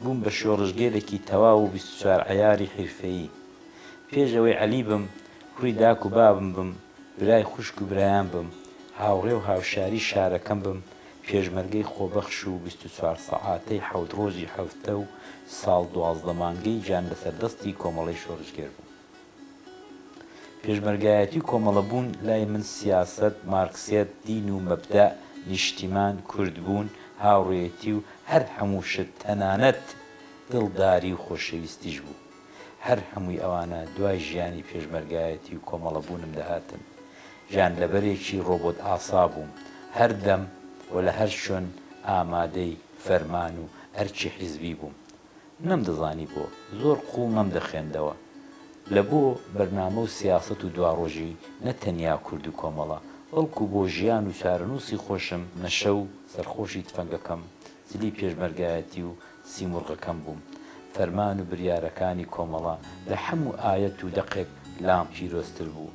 بووم بە شۆڕشگێرێکی تەواو و بیست و چوار عەیاری حیرفەیی. پێش ئەوەی عەلی بم، کوڕی داک و بابم بم، برای خوشک و برایان بم، هاوڕێ و هاوشاری شارەکەم بم، پێشمەرگەی خۆبەخش و بیست و چوار سەعاتەی حەوت ڕۆژی حەفتە و ساڵ دوازدە مانگەی جان لەسەر دەستی کۆمەڵەی شۆڕشگێر بووم. پێشمەرگایەتی و کۆمەڵەبوون لای من سیاسەت، مارکسیەت، دین و مەبدەئ، نیشتیمان، کوردبوون، هاوڕێیەتی و هەر هەموو شت تەنانەت دڵداری و خۆشەویستیش بوو. هەر هەمووی ئەوانە دوای ژیانی پێشمەرگایەتی و کۆمەڵەبوونم دەهاتن. گیانلەبەرێکی ڕۆبۆتئاسا بووم. هەردەم و لە هەر شوێن ئامادەی فەرمان و ئەرکی حیزبی بووم. نەمدەزانی بۆ زۆر قوو مەم دەخێندەوە لە بۆ بەرنامە و سیاسەت و دواڕۆژی نە تەنیا کورد و کۆمەڵە بەڵکوو بۆ ژیان و چارەنووسی خۆشم نە شەو سەرخۆشی تفەنگەکەم جلی پێشمەرگایەتی و سیموڕغەکەم بووم فەرمان و بریارەکانی کۆمەڵە لە حەموو ئایەت و دەقێک لام پیرۆزتر بوو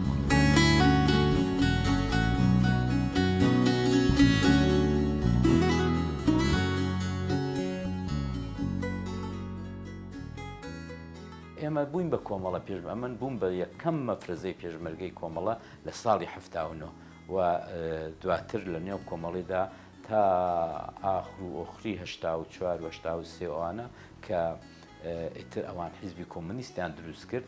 ئێمە بووین بە کۆمەڵە پێش ئەمن بووم بە یەکەم مەفرەزەی پێشمەرگەی کۆمەڵە لە ساڵی هەفتاونۆ و دواتر لە نێو کۆمەڵیدا تا ئاخر و ئۆخری هشتا و چوار وەشتا و سێوانە کە ئیتر ئەوان حیزبی کۆمنیستیان دروست کرد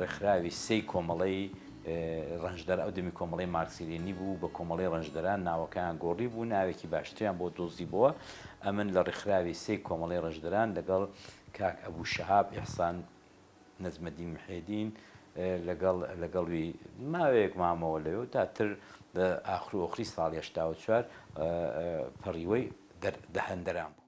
ڕێکخراوی سێی کۆمەڵەی ڕەنجدەر ئەو دەمی کۆمەڵەی مارکسی-لێنینی بوو و بە کۆمەڵەی ڕەنجدەران ناوەکەیان گۆڕی بوو، ناوێکی باشتریان بۆ دۆزیبۆوە. ئەمن لە ڕێکخراوی سێی کۆمەڵەی ڕەنجدەران لەگەڵ کاک ئەبوو شەهاب ئیحسان نەجمەدین محێدین لەگەڵ لەگەڵوی ماوەیەک مامەوە لەوێ و داتر لە ئاخرو ئۆخری ساڵی هەشتا و چوار پەڕیوەی دەر دهندەران بوو.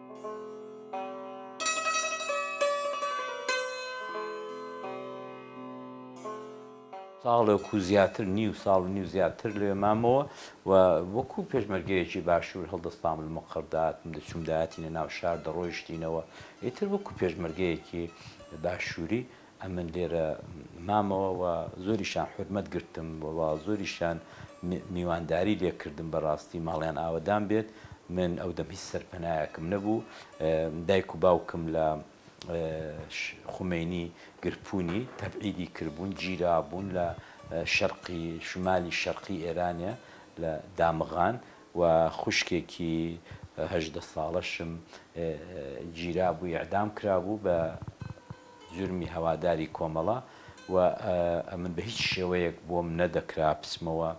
ساڵێک و زیاتر نیو ساڵ و نیو زیاتر لەوێ مامەوە و وەکو پێشمەرگەیەکی باشوور هەڵدەستام لە مقەردات من دەچووم داهاتینە ناو شار دەڕۆیشتینەوە ئیتر وەکو پێشمەرگەیەکی باشووری ئەمن لێرە مامەوە و زۆریشان حورمەت گرتم و زۆریشان میوانداری لێ کردم بەڕاستی ماڵیان ئاوەدان بێت من ئەو دەم هیچ سەرپەنایەکم نەبوو دایک و باوکم لە خومینی گرپوونی تەبعیدی کردبوون گیرا بوون لە شەرقی شمالی شەرقی ئێرانە لە دامغان و خوشکێکی هەژدە ساڵەشم گیرا بوو ئیعدام کرابوو بە جرمی هەواداری کۆمەڵە و ئەمن بە هیچ شێوەیەک بۆم نەدەکرا بچمەوە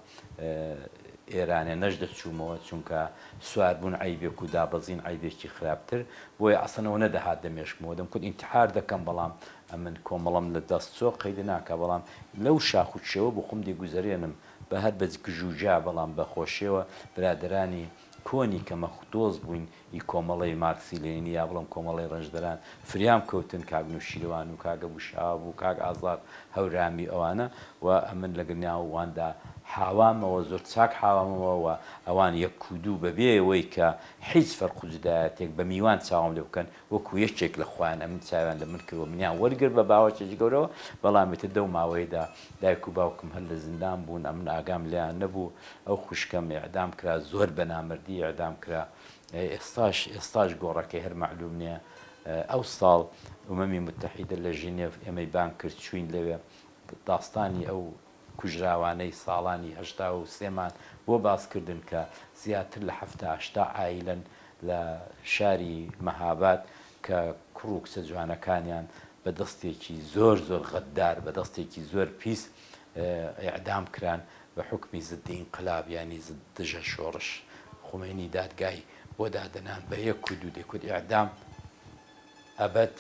ئێرانێ نەشدەچوومەوە چونکە سواربوون عەیبێک و دابەزین عەیبێکی خراپتر بۆیە ئەسڵەن ئەوە نەدەهات دەمێشکمەوە دەمکوت ئینتحار دەکەم بەڵام ئەمن کۆمەڵەم لە دەست چۆ قەیدە ناکا بەڵام لەو شاخ و کێوە بۆ خۆم دەیگوزەرێنم بە هەر بە گژوگیا بەڵام بە خۆشیەوە برادەرانی کۆنی کە مەخوتۆز بووین ی کۆمەڵەی مارکسی لێنینی یا بڵێم کۆمەڵەی ڕەنجدەران فریام کەوتن کاک نوشیروان و کاک ئەبو شەهاب و کاک ئازاد هەورامی و ئەوانە و ئەمن لە گرناو واندا حاوامەوە زۆر چاک حاوامەوە و ئەوان یەک و دوو بەبێ وەی کە حیچ فەرق و جودایەتێک بە میوان چاوم لێ بکەن وەکو یەکێک لە خوایان ئەمن چاویان لە من کرد و منیان وەرگرت بە باوەشێکی گەورەوە، بەڵام ئیتر دەو ماوەیەدا دایک و باوکم هەر لە زیندان بوون ئەمن ئاگام لێیان نەبوو، ئەو خوشکەم ئیعدام کرا زۆر بە نامەردی ئیعدام کرا ئێستاش ئێستاش گۆڕەکەی هەر مەعلوم نیە، ئەو ساڵ ئومەمی موتەحیدە لە ژینێڤ ئێمەی بانگ کرد چووین لەوێ داستانی ئەو کوژراوانەی ساڵانی هەشتا و سێ مان بۆ باس کردن کە زیاتر لە حەفتا هەشتا عایلەن لە شاری مەهاباد کە کوڕ و کچە جوانەکانیان بە دەستێکی زۆر زۆر غەدار بە دەستێکی زۆر پیس ئیعدام کران بە حوکمی ضد انقلاب یانی دژە شۆڕش خومەینی دادگای بۆ دادەنان بە یەک و دوو دێ کود ئیعدام ئەبەد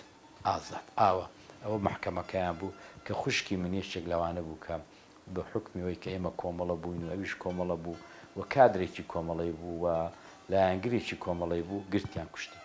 ئازاد ئاوە ئەوە مەحکەمەکەیان بوو کە خوشکی من یەکێک لەوانە بوو کە بە حوکمی ئەوەی کە ئێمە کۆمەڵە بووین و ئەویش کۆمەڵە بوو و کادرێکی کۆمەڵەی بوو و لایەنگرێکی کۆمەڵەی بوو گرتیان کوشتیان.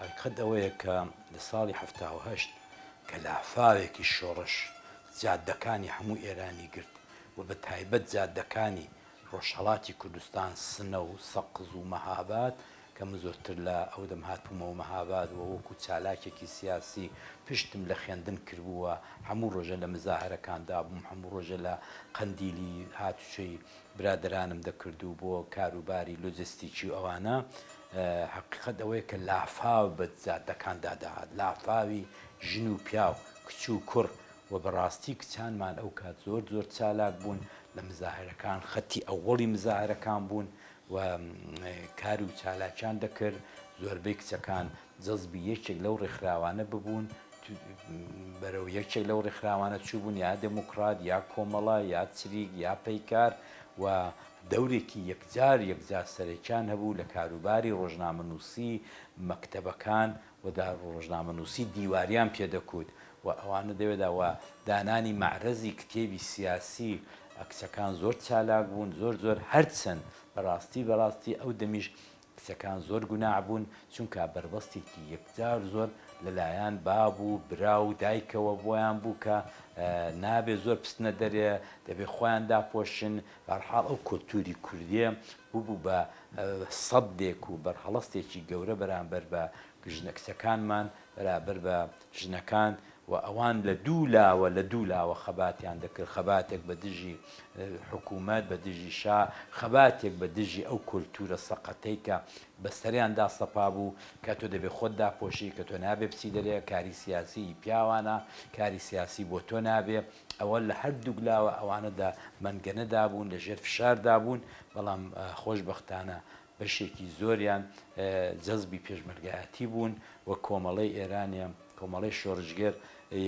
هەقیقەت ئەوەیە کە لە ساڵی حەفتا و هەشت کە لافاوێکی شۆڕش جادەکانی هەموو ئێرانی گرت و بە تایبەت جادەکانی ڕۆژهەڵاتی کوردستان سنە و سەقز و مەهاباد کە من زۆرتر لە ئەو دەم هاتبوومەوە مەهاباد و وەکو چالاکێکی سیاسی پشتم لە خوێندن کردبووە هەموو ڕۆژە لە مزاهرەکاندا بووم هەموو ڕۆژە لە قەندیلی هاتوچۆی برادەرانم دەکرد و بۆ کاروباری لۆجستیکی و ئەوانە، هەقیقەت ئەوەیە کە لافاو بە جادەکاندا دەهات، لافاوی ژن و پیاو، کچ و کوڕ و بەڕاستی کچانمان ئەو کات زۆر زۆر چالاک بوون لە مزاهرەکان، خەتی ئەوەڵی مزاهرەکان بوون و کار و چالاکیان دەکرد، زۆربەی کچەکان جەزبی یەکێک لەو ڕێکخراوانە ببوون بەرەو یەکێک لەو ڕێکخراوانە چووبوون یا دێموکڕات یا کۆمەڵە یا چریک یا پەیکار و دەورێکی یەکجار یەکجار سەرەکیان هەبوو لە کاروباری ڕۆژنامەنووسی مەکتەبەکان و دا ڕۆژنامەنووسی دیواریان پێ دەکووت و ئەوانە دەوێدا و دانانی مەعرەزی کتێبی سیاسی کچەکان زۆر چالاک بوون زۆر زۆر هەرچەند بەڕاستی بەڕاستی ئەو دەمیش کچەکان زۆر گوناح بوون چونکا بەربەستێکی یەکجار زۆر لەلایان باب و برا و دایکەوە بۆیان بوو کە نابێ زۆر بچنە دەرێ دەبێ خۆیان داپۆشن بەرحاڵ ئەو کۆلتوری کوردێ ببوو بە سەدێک و بەرهەڵستێکی گەورە بەرامبەر بە ژنە کچەکانمان بەرابەر بە ژنەکان و ئەوان لە دوو لاوە لە دوو لاوە خەباتیان دەکرد، خەباتێک بە دژی حکوومەت، بە دژی شا، خەباتێک بە دژی ئەو کۆلتوورە سەقەتەی کە بە سەریان دا سەپا بوو کە تۆ دەبێ خۆت داپۆشی، کە تۆ نابێ بچی دەرێ، کاری سیاسی هی پیاوانە، کاری سیاسی بۆ تۆ نابێ. ئەوە لە هەر دووک لاوە ئەوانە دە مەنگەنە دا بوون، لە ژێر فشار دا بوون، بەڵام خۆشبەختانە بەشێکی زۆریان جەزبی پێشمەرگایەتی بوون و کۆمەڵەی ئێرانێ، کۆمەڵەی شۆرشگێر،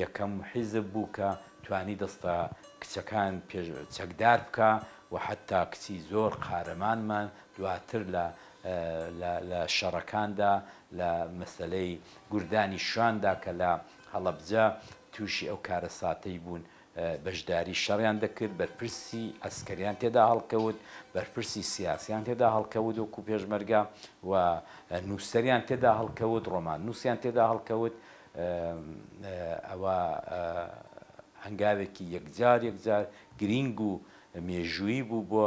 یەکەم حیزب بوو کە توانی دەستە کچەکان پێش چەکدار بکا و حەتتا کچی زۆر قارەمانمان دواتر لە لە لە شەڕەکاندا لە مەسەلەی گوردانی شواندا کە لە هەڵەبجە تووشی ئەو کارەساتەی بوون بەشداری شەڕیان دەکرد، بەرپرسی عەسکەریان تێدا هەڵکەوت، بەرپرسی سیاسیان تێدا هەڵکەوت وەکو پێشمەرگە و نووسەریان تێدا هەڵکەوت، ڕۆماننووسیان تێدا هەڵکەوت. ئەوە هەنگاوێکی یەکجار یەکجار گرینگ و مێژوویی بوو بۆ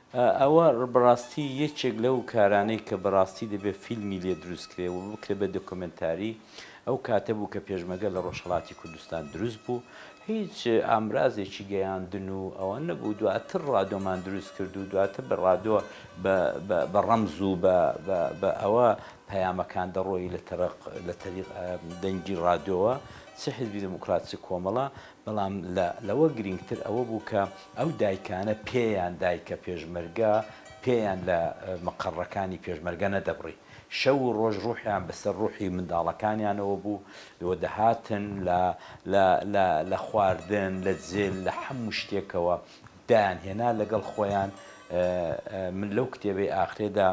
ئەوە بەڕاستی یەکێک لەو کارانەی کە بەڕاستی دەبێ فیلمی لێ دروست کرێ و بکرێ بە دۆکۆمێنتاری، ئەو کاتە بوو کە پێشمەگە لە ڕۆژهەڵاتی کوردستان دروست بوو، هیچ ئامرازێکی گەیاندن و ئەوە نەبوو، دواتر ڕادۆمان دروست کرد و دواتر بە ڕادۆ بە ڕەمز و بە ئەوە پەیامەکان دەڕۆی لە تەریق دەنگی ڕادۆوە، چ حیزبی دێموکڕات چ کۆمەڵە، بەڵام لە لەوە گرینگتر ئەوە بوو کە ئەو دایکانە پێیان دایکە پێشمەرگە پێیان لە مقەڕەکانی پێشمەرگە نەدەبڕی، شەو و ڕۆژ ڕوحیان بەسەر ڕوحی منداڵەکانیانەوە بوو و دەهاتن لە لە لە لە خواردن لە جل لە حەموو شتێکەوە دایانهێنا لەگەڵ خۆیان من لەو کتێبەی ئاخرێدا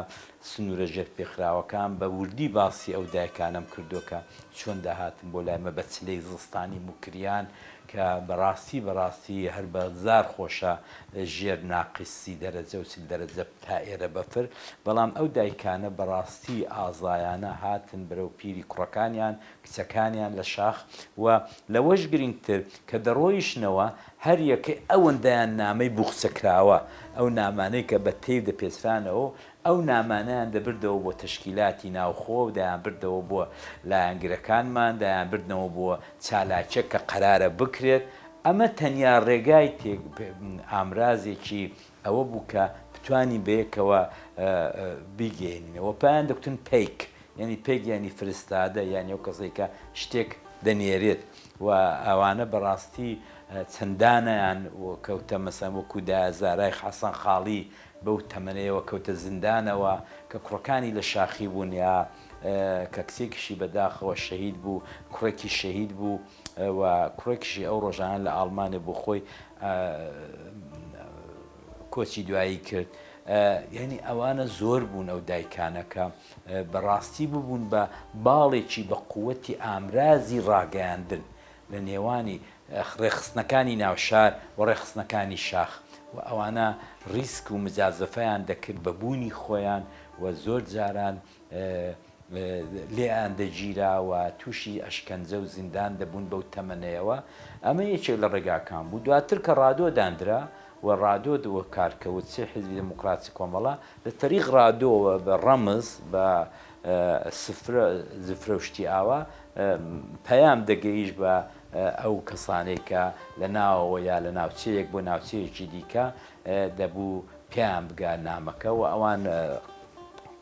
سنوورە ژێرپێخراوەکان بە وردی باسی ئەو دایکانەم کردووە کە چۆن دەهاتن بۆ لای مە بە چلەی زستانی موکریان کە بە ڕاستی بە ڕاستی هەر بە زار خۆشە لە ژێر ناقیس سی دەرەجە و چل دەرەجە تا ئێرە بەفر بەڵام ئەو دایکانە بە ڕاستی ئازایانە هاتن بەرەو پیری کوڕەکانیان کچەکانیان لە شاخ و لەوەش گرینگتر کە دەڕۆیشنەوە هەر یەکەی ئەوەندەیان نامەی بوخچە کراوە ئەو نامانەی کە بە تەیر دەپێچرانەوە و ئەو نامانەیان دەبردەوە بۆ تەشکیلاتی ناوخۆ، دەیانبردەوە بۆ لایەنگرەکانمان، دەیانبردنەوە بۆ چالاکییەک کە قەرارە بکرێت. ئەمە تەنیا ڕێگای تێک، ئامرازێکی ئەوە بوو کە بتوانین بەیەکەوە بیگەیەنینەوە. پێیان دەگوتن پەیک، یانی پەیک یانی فرستادە، یانی ئەو کەسەی کە شتێک دەنێرێت و ئەوانە بە ڕاستی چەندانیان کەوتە مەسەن وەکوو دایە زارای حەسەن خاڵی بەو تەمەنەیەوە کەوتە زیندانەوە کە کوڕەکانی لە شاخی بوون یا کە کچێکیشی بە داخەوە شەهید بوو کوڕێکیش شەهید بوو و کوڕێکیشی ئەو ڕۆژانە لە ئاڵمانێ بۆ خۆی کۆچی دوایی کرد یعنی ئەوانە زۆر بوون ئەو دایکانە کە بەڕاستی ببوون بە باڵێکی بە قووەتی ئامرازی ڕاگەیاندن لە نێوانی ڕێکخستنەکانی ناوشار و ڕێکخستنەکانی شاخ و ئەوانە ڕیسک و مجازەفەیان دەکرد بە بوونی خۆیان و زۆر جاران لێیان دەگیرا و تووشی ئەشکەنجە و زیندان دەبوون بەو تەمەنەیەوە ئەمە یەکێک لە ڕێگاکان بوو دواتر کە ڕادۆ داندرا و ڕادۆ دووە کارکەوت سێ حیزبی دێموکراتی کۆمەڵە لە تەریق ڕادۆوە بە ڕەمز بە سفرە زفرە و شتی ئاوا پەیام دەگەیشت بە ئەو کەسانەی کە لە ناوەوە یا لە ناوچەیەک بۆ ناوچەیەکی دیکە دەبوو پێیان بگا نامەکە و ئەوان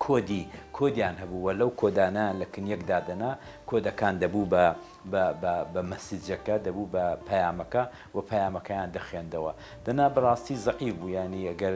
کۆدی کۆدیان هەبوو وە لەو کۆدانیان لە کنیەک دادەنا کۆدەکان دەبوو بە بە مەسیجەکە دەبوو بە پەیامەکە و پەیامەکەیان دەخێندەوە دەنا بەڕاستی زەعیف بوو ینی ئەگەر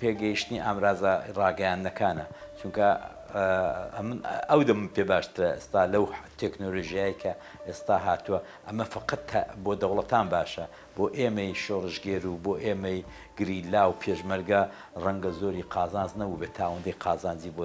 پێگەیشتنی ئامرازە ڕاگەیاندنەکانە چونکە ئەمن ئەو دەم پێ باشترە ئێستا لەو تەکنۆلژیایی کە ئێستا هاتووە ئەمە فقط بۆ دەوڵەتان باشە بۆ ئێمەی شۆڕشگێر و بۆ ئێمەی گریلا و پێشمەرگە ڕەنگە زۆری قازانج نەبوو بێت تاوەندەی قازانجی بۆ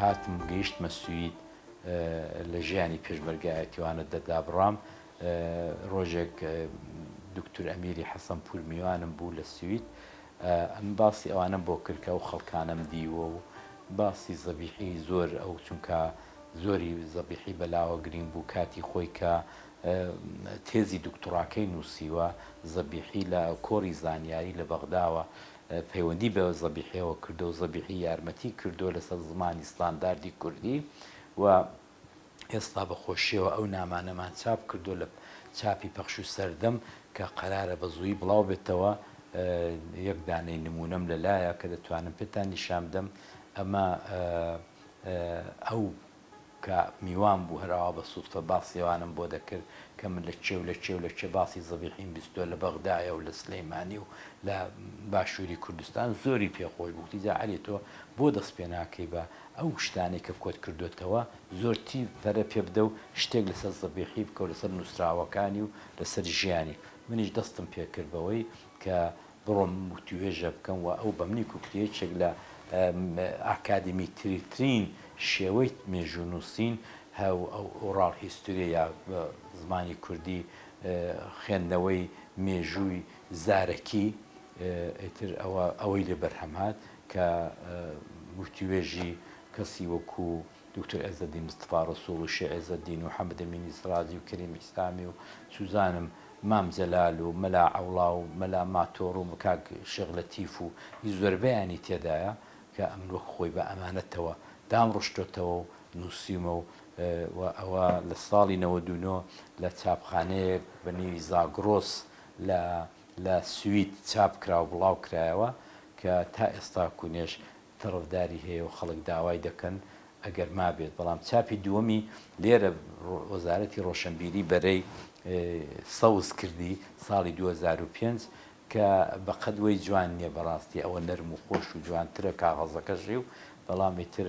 هاتم گەیشتمە سوید لە ژیانی پێشمەرگایەتیوانە دەردابڕام ڕۆژێک دکتور ئەمیری حەسەن پور میوانم بوو لە سوید ئەم باسی ئەوانم بۆ کردکە و خەڵکانم دیوە و باسی زەبیحی زۆر ئەو چونکە زۆری زەبیحی بەلاوە گرینگ بوو کاتی خۆی کە تێزی دوکتوڕاکەی نووسیوە، زەبیحی لە کۆڕی زانیاری لە بەغداوە پەیوەندی بە زەبیحییەوە کردووە و زەبیحی یارمەتیی کردووە لەسەر زمانی ستانداردی کوردی و ئێستا بە خۆشییەوە ئەو نامانەمان چاپ کردووە لە چاپی پەخش و سەردەم کە قەرارە بە زوویی بڵاو بێتەوە، یەک دانەی نموونەم لە لایە کە دەتوانم پێتان نیشان بدەم، ئەمە. ئەو کە میوان بوو هەر ئاوا بە سوتفە باسی ئەوانەم بۆ دەکرد کە من لە کێ و لە کێ و لە کێ باسی زەبیحیم بیستووە لە بەغدایە و لە سلەیمانی و لە باشووری کوردستان زۆری پێ خۆش بوو گوتی جا عەلی تۆ بۆ دەست پێ ناکەی بە ئەو شتانەی کە کۆت کردۆتەوە زۆر تیڤ پەرە پێ بدە و شتێک لە سەر زەبیحی بکە و لە سەر نووسراوەکانی و لە سەر ژیانی منیش دەستم پێ کرد بەوەی کە بڕۆم وتوێژە بکەم و ئەو بەمنی کوکتە یەکێک لە ئاکادمیترترین شێوەی مێژوو نووسین هەو ئوڕاڵ هیستوریە یا بە زمانی کوردی خوێندنەوەی مێژووی زارەکی ئیتر ئەوە ئەوەی لێ بەرهەم هات کە وتوێژی کەسی وەکوو دوکتور عێزەدین مستەفا ڕەسووڵ و شێخ عێزەدین و حەمەدەمینی سڕاجی و کەریم ئیسلامی و سوزانم مام جەلال و مەلا عەوڵا و مەلا ماتۆڕ و کاک شێخ لەتیف و ی زۆربەیانی تێدایە کە ئەمن وەک خۆی بە ئەمانەتەوە دامڕشتۆتەوە و نووسیومە و ئەوە لە ساڵی نەوەد و نۆ لە چاپخانەیەک بە نێوی زاگڕۆس لە لە سوید چاپ کرا و بڵاو کرایەوە کە تا ئێستاکوونێش تەڕەفداری هەیە و خەڵک داوای دەکەن ئەگەر مابێت، بەڵام چاپی دووەمی لێرە وەزارەتی ڕۆشەنبیری بەرەی سەوز کردی ساڵی دوو هەزار و پێنج کە بەقەد وەی جوان نییە بەڕاستی ئەوە نەرم و خۆش و جوانترە کاغەزەکەشی و بەڵام ئیتر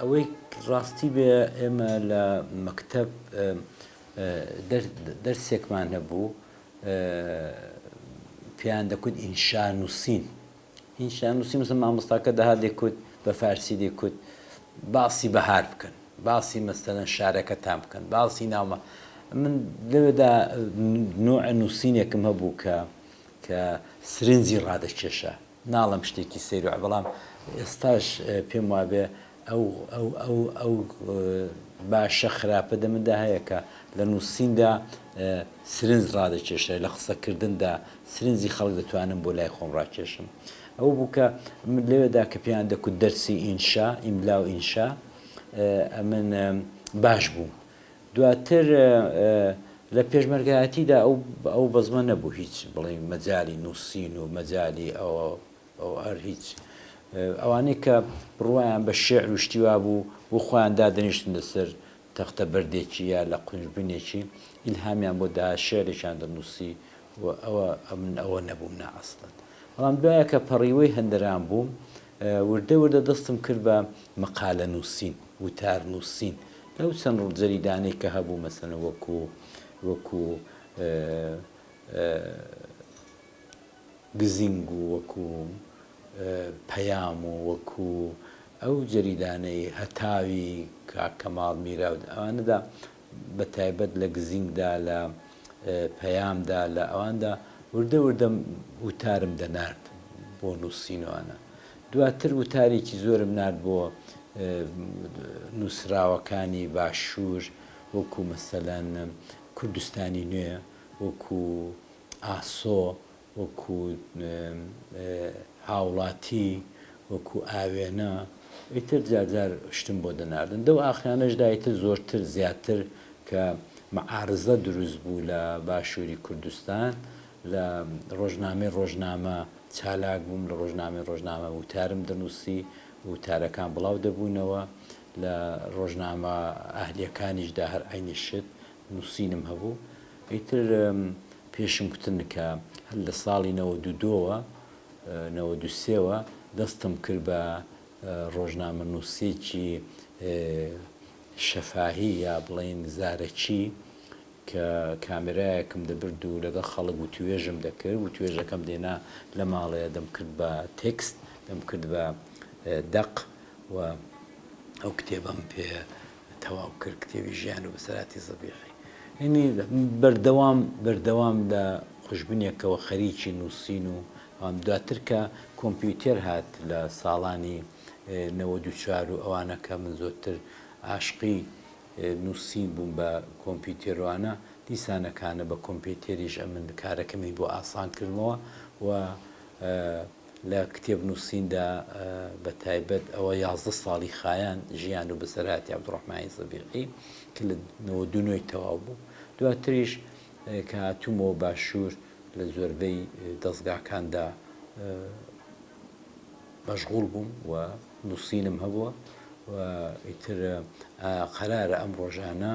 ئەوەی ڕاستی بێ ئێمە لە مەکتب دەرسێکمان هەبوو پێیان دەکوت ئینشا نووسین ئینشا نووسیم وتم مامۆستاکە دەهات دەیکوت بە فارسی دەیکوت باسی بەهار بکەن باسی مەسەلەن شارەکەتان بکەن باسی ناومە من لەوێدا نوع نووسینێکم هەبوو کە کە سرنجی ڕادەکێشە ناڵم شتێکی سەیرۆ بەڵام ئێستاش پێم وابێ ئەو ئەو ئەو ئەو باشە خراپە دە مندا هەیە کە لە نووسیندا سرنج ڕادەکێشێ لە قسەکردندا سرنجی خەڵک دەتوانم بۆ لای خۆم ڕاکێشم ئەو بوو کە من لەوێدا کە پێیان دەکوت دەرسی ئینشا ئیملا و ئینشا ئەمن باش بووم دواتر لە پێشمەرگایەتیدا ئەو ئەو بەزمە نەبوو هیچ بڵێ مەجای نووسین و مەجای ئەوە ئەو هەر هیچ. ئەوانەی کە بڕوایان بە شیعر و شتی وا بوو و خۆیان دادەنیشتن لەسەر تەختە بەردێکی یا لە قونج بنێکی، ئیلهامیان بۆ دەهات شیعرێکیان دەنووسی و ئەوە من ئەوە نەبووم نا ئەسڵەن. بەڵام دوایە کە پەڕیوەی هەندەران بووم، وردە وردە دەستم کرد بە مەقالەنووسین، وتارنووسین. لەو چەند جەریدانەی کە هەبوو مەسەلەن وەکوو وەکوو، گزینگ و وەکو پەیام و وەکو ئەو جەریدانەی هەتاوی کاک کەماڵ میرا و ئەوانەدا بە تایبەت لە گزینگدا لە پەیامدا لە ئەواندا وردە وردە وتارم دەنارد بۆ نووسین و ئەنا دواتر وتارێکی زۆرم نارد بۆ نووسراوەکانی باشوور وەکو مەسەلەن کوردستانی نوێ وەکو ئاسۆ وەکو هاوڵاتی وەکو ئاوێنە ئیتر جار جار شتم بۆ دەناردن دەو ئاخرانەش دا ئیتر زۆرتر زیاتر کە معارزە دروست بوو لە باشوری کوردستان لە ڕۆژنامەی ڕۆژنامە چالاک بووم لە ڕۆژنامەی ڕۆژنامە وتارم دەنووسی وتارەکان بڵاو دەبوونەوە لە ڕۆژنامە ئەهلیەکانیش دا هەر عەینی شت نووسینم هەبوو ئیتر پێشم کوتن کە هەر لە ساڵی نەوەد و دوو وە نەوەد و سێ وە دەستم کرد بە ڕۆژنامەنووسێکی شەفاهی یا بڵێین زارەکی کە کامێرایەکم دەبرد و لەگەڵ خەڵک وتوێژم دەکرد وتوێژەکەم دێنا لە ماڵێ دەمکرد بە تێکست دەمکرد بە دەق و ئەو کتێبەم پێ تەواو کرد کتێبی ژیان و بەسەراتی زەبیحی یعنی بەردەوام بەردەوام لە خوشبنێکەوە خەریکی نووسین و ئەوان دواتر کە کۆمپیوتێر هات لە ساڵانی نەوەد و چوار و ئەوانەکە من زۆرتر عاشقی نووسین بووم بە کۆمپیوتێروانە دیسانەکانە بە کۆمپیوتێریش ئەمن کارەکەمی بۆ ئاسان کردمەوە و لە کتێب نووسیندا بە تایبەت ئەوە یازدە ساڵی خایاند ژیان و بەسەرهاتی عەبدوڕەحمانی زەبیقی کە لە نەوەد و نۆی تەواو بوو دواتریش کە هاتوومەوە باشوور لە زۆربەی دەزگاکاندا مەشغوڵ بووم و نووسینم هەبووە و ئیتر قەرارە ئەم ڕۆژانە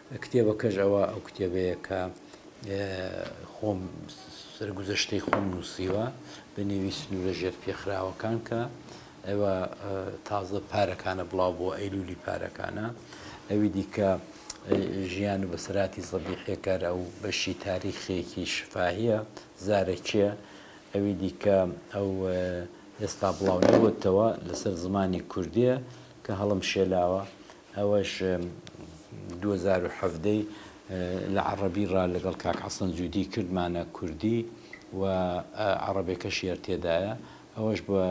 کتێبەکەش ئەوە ئەو کتێبەیە کە خۆم سەرگوزەشتەی خۆم نووسیوە بە نێوی سنوورە ژێر پێخراوەکان کە ئەوە تازە پارەکانە بڵاو بۆ ئەیلولی پارەکانە ئەوی دیکە ژیان و بەسەراتی زەبی حێکار ئەو بەشی تاریخێکی شفاهیە زارەکیە ئەوی دیکە ئەو ئێستا بڵاو نەوەتەوە لەسەر زمانی کوردیە کە هەڵم شێلاوە ئەوەش دوو هەزار و حەڤدە ی لە عەڕەبی ڕا لەگەڵ کاک عەسڵەن جودی کردمانە کوردی و عەڕەبێکەشی هەر تێدایە ئەوەش بە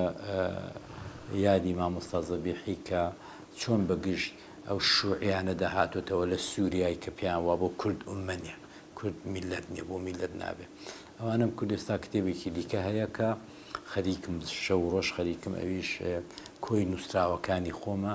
یادی مامۆستا زەبیحی کە چۆن بە گژ ئەو شوعیانە دەهاتۆتەوە لە سوریای کە پێیان وا بۆ کورد ئوممە نیە کورد میللەت نیە بۆ میللەت نابێ ئەوانم کورد ئێستا کتێبێکی دیکە هەیە کە خەریکم شەو ڕۆژ خەریکم ئەویش کۆی نووسراوەکانی خۆمە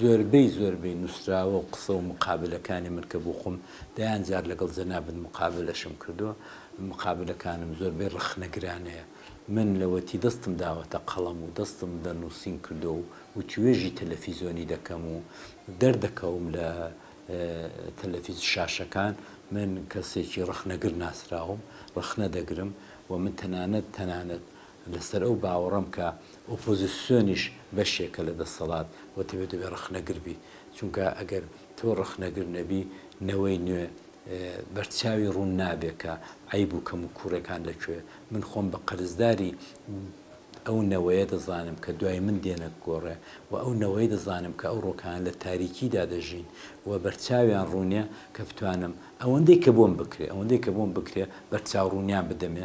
زۆربەی زۆربەی نووسراوە و قسە و مقابلەکانی من کە بۆ خۆم دەیان جار لەگەڵ جەنابت مقابلەشم کردووە، مقابلەکانم زۆربەی ڕەخنەگرانەیە. من لەوەتی دەستم داوەتە قەڵەم و دەستم بە نووسین کردووە و وتووێژی تەلەفیزۆنی دەکەم و دەردەکەوم لە تەلەفیز شاشەکان، من کەسێکی ڕەخنەگر ناسراوم، ڕەخنە دەگرم و من تەنانەت تەنانەت لەسەر ئەو باوەڕەم کە ئۆپۆزیسیۆنیش بەشێکە لە دەسەڵات و تەبێ دەبێ ڕەخنەگر بی، چونکە ئەگەر تۆ ڕەخنەگر نەبی نەوەی نوێ بەرچاوی ڕوون نابێ کە عەیب و کەموکووڕیەکان لە کوێ، من خۆم بە قەرزداری ئەو نەوەیە دەزانم کە دوای من دێنە گۆڕێ و ئەو نەوەی دەزانم کە ئەو ڕۆکانە لە تاریکیدا دەژین و بەرچاویان ڕوونە کە بتوانم ئەوەندەی کە بۆم بکرێ ئەوەندەی کە بۆم بکرێ بەرچاو ڕوونیان بدەمێ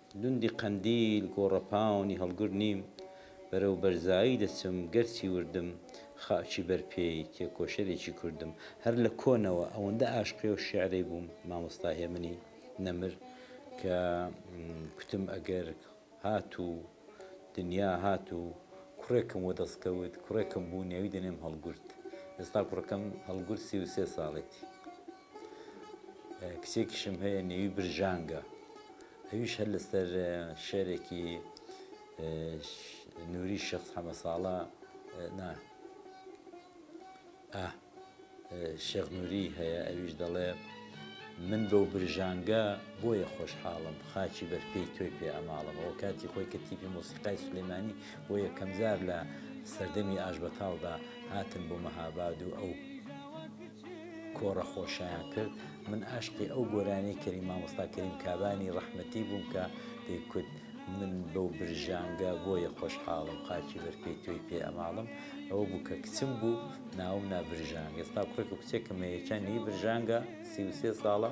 گوندی قەندیل گۆڕەپاونی هەڵگر نیم، بەرەو بەرزایی دەچم، گەرچی وردم، خاکی بەر پێی، تێکۆشەرێکی کوردم. هەر لە کۆنەوە ئەوەندە ئاشقی ئەو شیعرەی بووم، مامۆستا هێمنی نەمر، کە کوتم ئەگەر هات و دنیا هات و کوڕێکم وەدەست کەوت، کوڕێکم بوو نێوی دەنێم هەڵگورد. ئێستا کوڕەکەم هەڵگورد سی و سێ ساڵێتی. کچێکیشم هەیە نێوی برژانگە ئەویش هەر لەسەر شعرێکی نووری شخص حەمە ساڵە نا شێخ نووری هەیە ئەویش دەڵێ من بەو برژانگە بۆیە خۆشحاڵم خاچی بەرپێی تۆی پێ ئەماڵەوە کاتی خۆی کە تیپی مۆسیقای سلێمانی بۆ یەکەمجار لە سەردەمی ئاش بەتاڵدا هاتن بۆ مەهاباد و ئەو کۆڕە خۆشیان کرد من ئاشقی ئەو گۆرانیەی کەری مامۆستا کەریم کابانی ڕەحمەتی بووم کە دەی کوت من بەو برژانگە بۆیە خۆشحاڵم خاکی بەر پێی تۆی پێ ئەماڵم ئەوە بوو کە کچم بوو ناوم نا برژانگ ئێستا کوڕێک و کچێکم هەیە یەکیان نی برژانگە سی و سێ ساڵە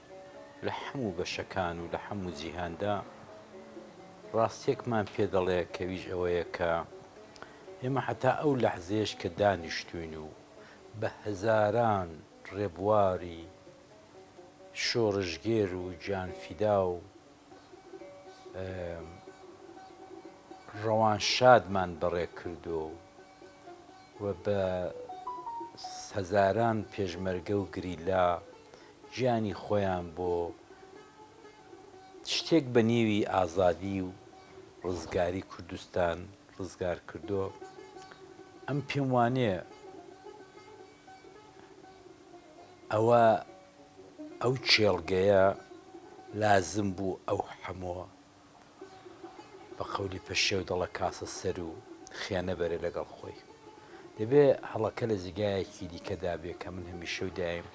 لە هەموو بەشەکان و لە هەموو جیهاندا ڕاستیەکمان پێ دەڵێ کەویش ئەوەیە کە ئێمە هەتا ئەو لەحزەیەش کە دانیشتوین و بە هەزاران ڕێبواری شۆڕشگێر و گیانفیدا و ڕەوانشادمان بەڕێ کردو و بە هەزاران پێشمەرگە و گریلا گیانی خۆیان بۆ شتێک بە نیوی ئازادی و ڕزگاری کوردستان ڕزگار کردۆ ئەم پێم وانێ ئەوە ئەو چێڵگەیە لازم بوو ئەو حەمۆ بە قەولی پەشێو دەڵە کاسە سەر و خێنە بەرێ لەگەڵ خۆی. دەبێ هەڵەکە لە جێگایەکی دیکەدا بێ کە من هەمیشە و دایم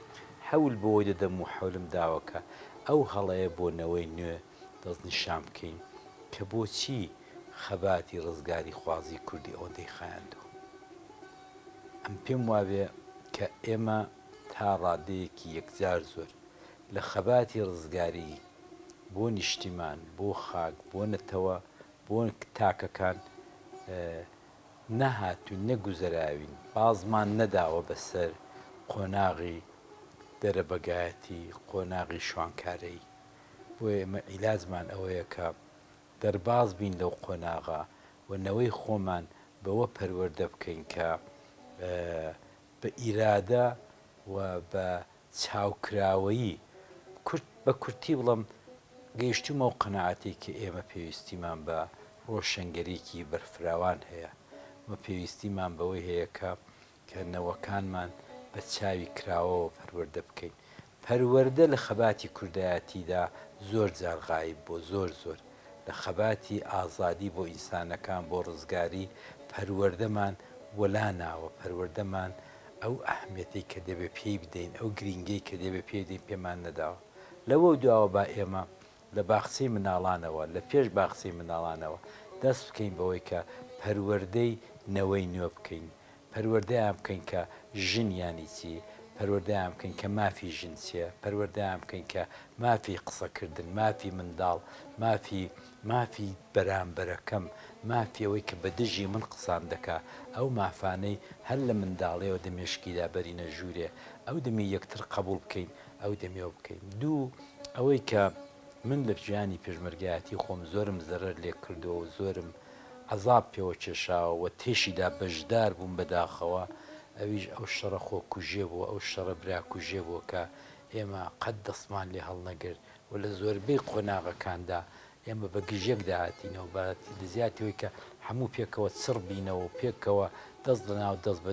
حەول بەوە دەدەم و حەولم داوە کە ئەو هەڵەیە بۆ نەوەی نوێ دەستنیشان بکەین کە بۆچی خەباتی ڕزگاریخوازیی کوردی ئەوەندەی خایاندووە. ئەم پێم وابێ کە ئێمە تا ڕادەیەکی یەکجار زۆر لە خەباتی ڕزگاریی، بۆ نیشتیمان، بۆ خاک، بۆ نەتەوە، بۆ تاکەکان نەهاتووین، نەگوزەراوین، بازمان نەداوە بەسەر قۆناغی دەرەبەگایەتی، قۆناغی شوانکارەیی. بۆیە ئێمە عیلاجمان ئەوەیە کە دەرباز بین لەو قۆناغە و نەوەی خۆمان بەوە پەروەردە بکەین کە بە ئیرادە و بە چاوکراوەیی، کورت بە کورتی بڵێم گەیشتوومە ئەو قەناعەتەی کە ئێمە پێویستیمان بە ڕۆشەنگەریی بەرفراوان هەیە و پێویستیمان بەوەی هەیە کە کە نەوەکانمان بە چاوی کراوەوە پەروەردە بکەین. پەروەردە لە خەباتی کوردایەتیدا زۆر جار غایب بووە، زۆر زۆر لە خەباتی ئازادی بۆ ئینسانەکان، بۆ ڕزگاری پەروەردەمان وەلا ناوە، پەروەردەمان. ئەو ئەهمیەتەی کە دەبێت پێی بدەین، ئەو گرینگیەی کە دەبێت پێی بدەین پێمان نەداوە. لەوە دواوە با ئێمە لە باخچەی منداڵانەوە، لە پێش باخچەی منداڵانەوە دەست بکەین بەوەی کە پەروەردەی نەوەی نوێ بکەین، پەروەردەیان بکەین کە ژن یانی چی، پەروەردەیان بکەین کە مافی ژن چیە، پەروەردەیان بکەین کە مافی قسەکردن، مافی منداڵ، مافی مافی بەرامبەرەکەم، مافی ئەوەی کە بە دژی من قسان دەکا، ئەو مافانەی هەر لە منداڵییەوە دە مێشکیدا بەرینە ژوورێ، ئەو دەمی یەکتر قەبووڵ بکەین، ئەو دەمی ئەو بکەین. دوو، ئەوەی کە من لە ژیانی پێشمەرگایەتی خۆم زۆرم زەرەر لێ کردووە و زۆرم عەزاب پێوە کێشاوە و تێشیدا بەشدار بووم بە داخەوە، ئەویش ئەو شەڕە خۆکوژێ بووە، ئەو شەڕە براکوژێ بووە کە ئێمە قەت دەستمان لێ هەڵنەگرت. و لە زۆربەی قۆناغەکاندا ئێمە بە گژیەک داهاتینەوە بە لە جیاتی ئەوەی کە هەموو پێکەوە چڕ بینەوە و پێکەوە دەست لە ناو دەست بە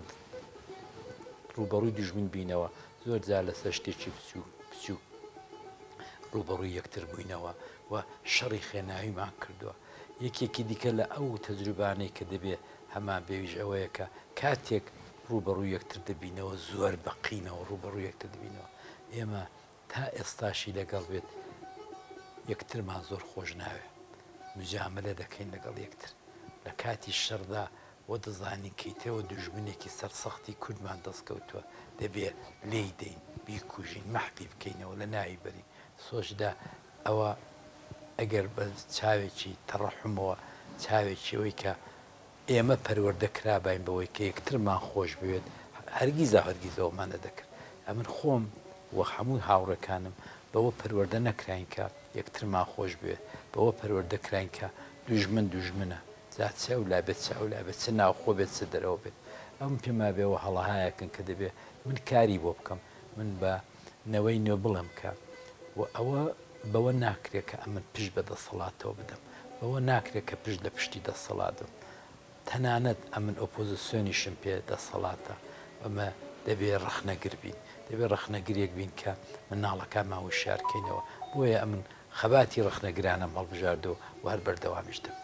ڕووبەڕووی دوژمن بینەوە زۆر جار لەسەر شتێکی بچووک بچووک ڕووبەڕووی یەکتر بووینەوە و شەڕی خێناویمان کردووە یەکێکی دیکە لە ئەو تەجروبانەی کە دەبێ هەمان بێویش ئەوەیە کە کاتێک ڕووبەڕووی یەکتر دەبینەوە زۆر بە قینەوە ڕووبەڕووی یەکتر دەبینەوە ئێمە تا ئێستاشی لەگەڵ بێت یەکترمان زۆر خۆش ناوێ مجامەلە دەکەین لەگەڵ یەکتر لە کاتی شەڕدا وە دەزانین کەیترەوە دوژمنێکی سەرسەختی کوردمان دەست کەوتوە دەبێ لێی دەین بیکوژین مەحفی بکەینەوە لە ناوی بەری سۆچدا ئەوە ئەگەر بە چاوێکی تەڕەحمەوە چاوێکی ئەوەی کە ئێمە پەروەردە کراباین بەوەی کە یەکترمان خۆش بوێت، هەرگیزاو هەرگیز ئەوەمان نەدەکرد. ئەمن خۆم و هەموو هاوڕێکانم بەوە پەروەردە نەکراین کە یەکترمان خۆش بوێت، بەوە پەروەردە کراین کە دوژمن دوژمنە، جا چ ئەو لا بێت چ ئەو لا بێت، چ ناوخۆ بێت چ دەرەوە بێت. ئەوەم پێمابێ ئەوە هەڵەهایەکن کە دەبێ من کاری بۆ بکەم، من بە. نەوەی نوێ بڵێم کە و ئەوە بەوە ناکرێت کە ئەمن پشت بە دەسەڵاتەوە بدەم، بەوە ناکرێت کە پشت لە پشتی دەسەڵات بم. تەنانەت ئەمن ئۆپۆزسیۆنیشم پێ دەسەڵاتە و ئەمە دەبێت ڕەخنەگر بین. دەبێت ڕەخنەگرێک بین کە منداڵەکانمان وشیار کەینەوە. بۆیە ئەمن خەباتی ڕەخنەگرانەم هەڵبژاردووە و هەر بەردەوامیش دەبم.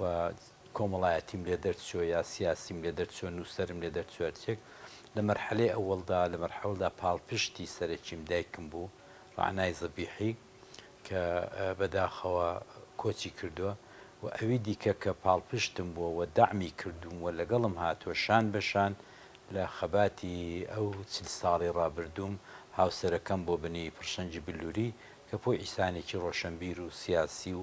و کۆمەڵایەتیم لێ دەرچووە یا سیاسیم لێ دەرچووە نووسەرم لێ دەرچووە هەر چییەک لە مەرحەلەی ئەوەڵدا لە مەرحەوەڵدا پاڵپشتی سەرەکیم دایکم بوو ڕەعنای زەبیحی کە بەداخەوە کۆچی کردووە و ئەوی دیکە کە پاڵپشتم بووە و دەعمی کردووم و لەگەڵم هاتووە شان بە شان لە خەباتی ئەو چل ساڵەی ڕابردووم هاوسەرەکەم بۆ بنی پڕشەنگی بلووری کە پوویسانێکی ڕۆشەنبیر و سیاسی و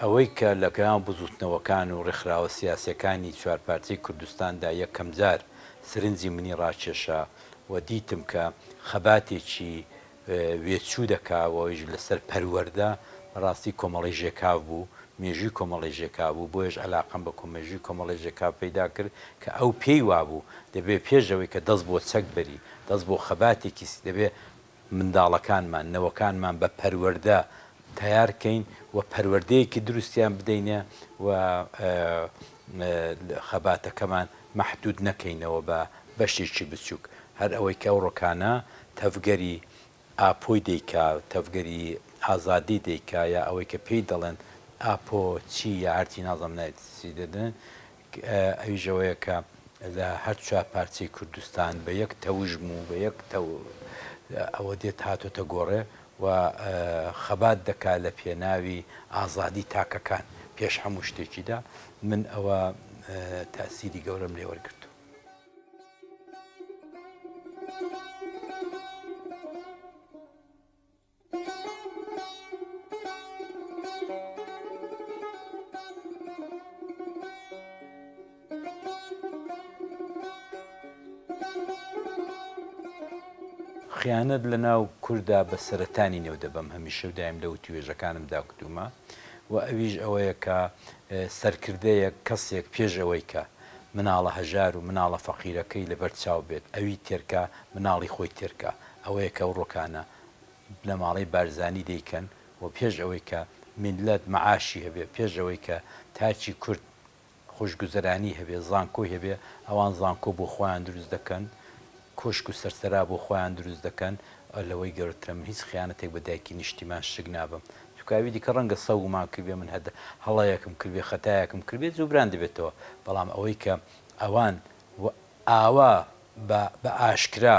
ئەوەی کە لە گەناو بزووتنەوەکان و ڕێکخراوە سیاسییەکانی چوار پارچەی کوردستاندا یەکەمجار سرنجی منی ڕاکێشا و دیتم کە خەباتێکی وێچوو دەکا و ئەویش لەسەر پەروەردە، بەڕاستی کۆمەڵەی ژێکاف بوو، مێژووی کۆمەڵەی ژێکاف بوو، بۆیەش عەلاقەم بە مێژووی کۆمەڵەی ژێکاف پەیدا کرد کە ئەو پێی وابوو دەبێ پێش ئەوەی کە دەست بۆ چەک بەری، دەست بۆ خەباتێکی دەبێ منداڵەکانمان، نەوەکانمان بە پەروەردە تەیار کەین و پەروەردەیەکی دروستیان بدەینێ و خەباتەکەمان مەحدوود نەکەینەوە بە بەشێکی بچووک. هەر ئەوەی کە ئەوڕۆکانە تەڤگەری ئاپۆی دەیکا، تەڤگەری ئازادی دەیکا یا ئەوەی کە پێی دەڵێن ئاپۆ چی یا هەرچی نازانم نایەتی چی دەدن، ئەویش ئەوەیە کە لە هەر چوار پارچەی کوردستان بە یەک تەوژم و بە یەک ئەوە دێت هاتۆتە گۆڕێ و خەبات دەکات لە پێناوی ئازادی تاکەکان پێش هەموو شتێکیدا من ئەوە تەئسیری گەورەم لێ وەرگرتووە. خیانەت لە ناو کوردا بە سەرەتانی نێو دەبەم هەمیشە و دایم لە وتووێژەکانم دا کوتوومە و ئەویش ئەوەیە کە سەرکردەیەک کەسێک پێش ئەوەی کە مناڵە هەژار و مناڵە فەقیرەکەی لەبەر چاو بێت ئەوی تێرکا مناڵی خۆی تێرکا ئەوەیە کە ئەو ڕۆکانە بنەماڵەی بارزانی دەیکەن و پێش ئەوەی کە میللەت مەعاشی هەبێ پێش ئەوەی کە تاکی کورد خۆشگوزەرانی هەبێ زانکۆی هەبێ ئەوان زانکۆ بۆ خۆیان دروست دەکەن کۆشک و سەرسەرا بۆ خۆیان دروست دەکەن لەوەی گەورەترە من هیچ خیانەتێک بە دایکی نیشتیمان شک نابەم چونکە ئەوی دیکە ڕەنگە سەوگمان کردبێ من هەدە هەڵەیەکم کردبێ خەتایەکم کردبێ جوبران دەبێتەوە بەڵام ئەوەی کە ئەوان ئاوا بە بە ئاشکرا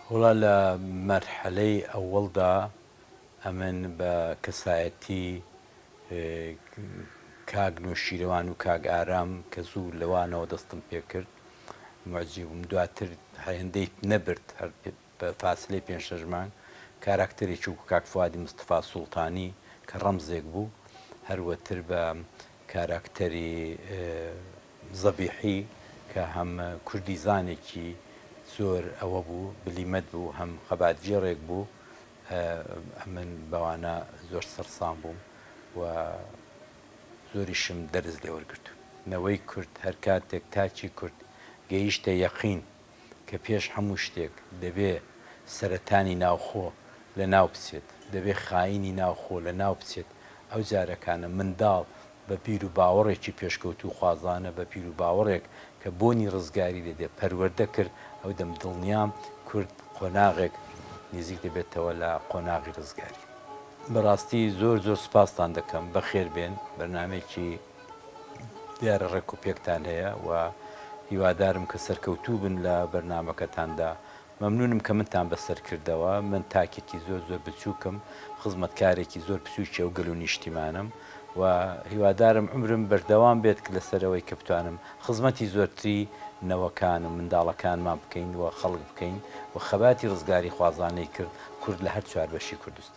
وەڵا لە مەرحەلەی ئەوەڵدا ئەمن بە کەسایەتی کاک نوشیروان و کاک ئارام کە زوو لەوانەوە دەستم پێ کرد موعجیب بووم دواتر هەندەی نەبرد هەر بە فاسلەی پێنج شەش مانگ کاراکتەرێکی وەکو کاک فوادی مستەفا سوڵتانی کە ڕەمزێک بوو هەروەتر بە کاراکتەری زەبیحی کە هەم کوردیزانێکی زۆر ئەوە بوو، بلیمەت بوو، هەم خەباتگێڕێک بوو، ئەمن بەوانە زۆر سەرسام بووم و زۆریشم دەرس لێوەرگرتوون. نەوەی کورد هەر کاتێک تاکی کورد گەیشتە یەقین، کە پێش هەموو شتێک دەبێ سەرەتانی ناوخۆ لە ناو بچێت، دەبێ خایینی ناوخۆ لە ناو بچێت، ئەو جارەکانە منداڵ بە بیر و باوەڕێکی پێشکەوتووخوازانە، بە بیر و باوەڕێک کە بۆنی ڕزگاری لێ دێ پەروەردە کرد، ئەو دەم دڵنیام کورد قۆناغێک نیزیک دەبێتەوە لە قۆناغی ڕزگاری. بەڕاستی زۆر زۆر سوپاستان دەکەم، بەخێر بێن، بەرنامەیەکی. دیارە ڕێک و پێکتان هەیە و هیوادارم کە سەرکەوتوو بن لە بەرنامەکەتاندا. مەمنونم کە منتان بەسەر کردەوە. من تاکێکی زۆر زۆر بچوکم، خزمەتکارێکی زۆر بچوکی ئەو گەل و نیشتیمانم و هیوادارم عومرم بەردەوام بێت کە لەسەر ئەوەی کە بتوانم خزمەتی زۆرتری نەوەکان و منداڵەکانمان بکەین و خەڵک بکەین و خەباتی ڕزگاریخوازانەی کرد کورد لە هەر چوار بەشی کوردستان.